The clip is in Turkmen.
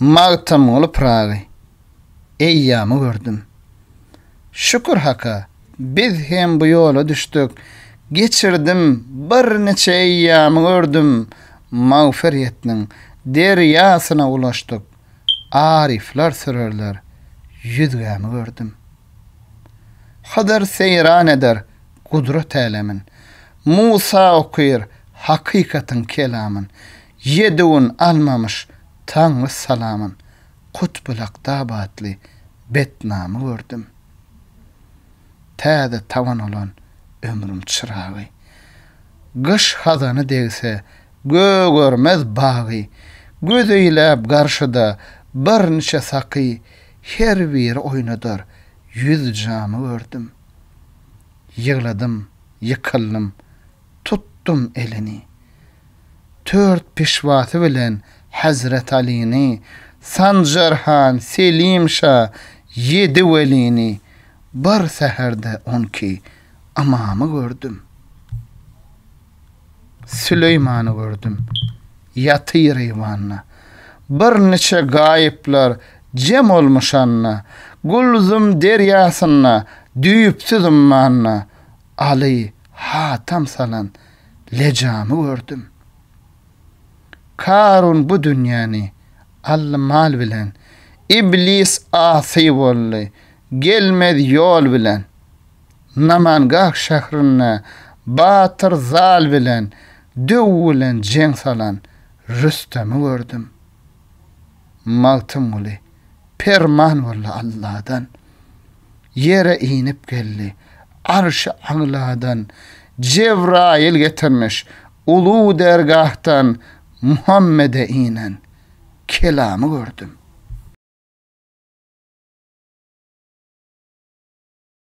Magtymguly Pyragy eýýamy gördüm. Şükür Haka, biz hem bu ýola düşdük. Geçirdim, birniçe eýýamy gördüm. Magfyretniň derýasyna ulaşdyk. Aryflar sürerler ýüzgämi gördüm. Hydyr seýran eder gudrat älemin, Musa okyr hakykatyň kelamyn, Ýedi gün almamyş Taňry salamyn, Kutbulakda batly betnamy gördüm. Täze tabyn bolan ömrüm çyragy, Gyş hazany degse gögermez bagy, Göz eýläp garşyda birniçe saky, Her biri oýnadar ýüz jamy gördüm. Ýygladym, ýykyldym, tutdum elini. Tört pişwasy bilen Hezret Alyny, Sanjar han, Selim şa, ýedi welini, bir säherde on iki ymamy gördüm. Süleýmany gördüm. Ýatyr eýwanda. Bir niçe gaýyplar jem olmuşanda, Gülzum derýasynda düýpsüz ummanda, Aly hatam salan lejamy gördüm. Karun bu dünýäni aldy mal bilen, Iblis asy boldy, gelmez ýol bilen. Namangah şährinde batyr Zal bilen döw bilen jeň salan Rüstemi gördüm. Magtymguly, Perman boldy Alladan. Ýere inip geldi. Arşy agladan Jebraýyl getirmiş Ulu dergahdan Muhammede inen kelamy gördüm.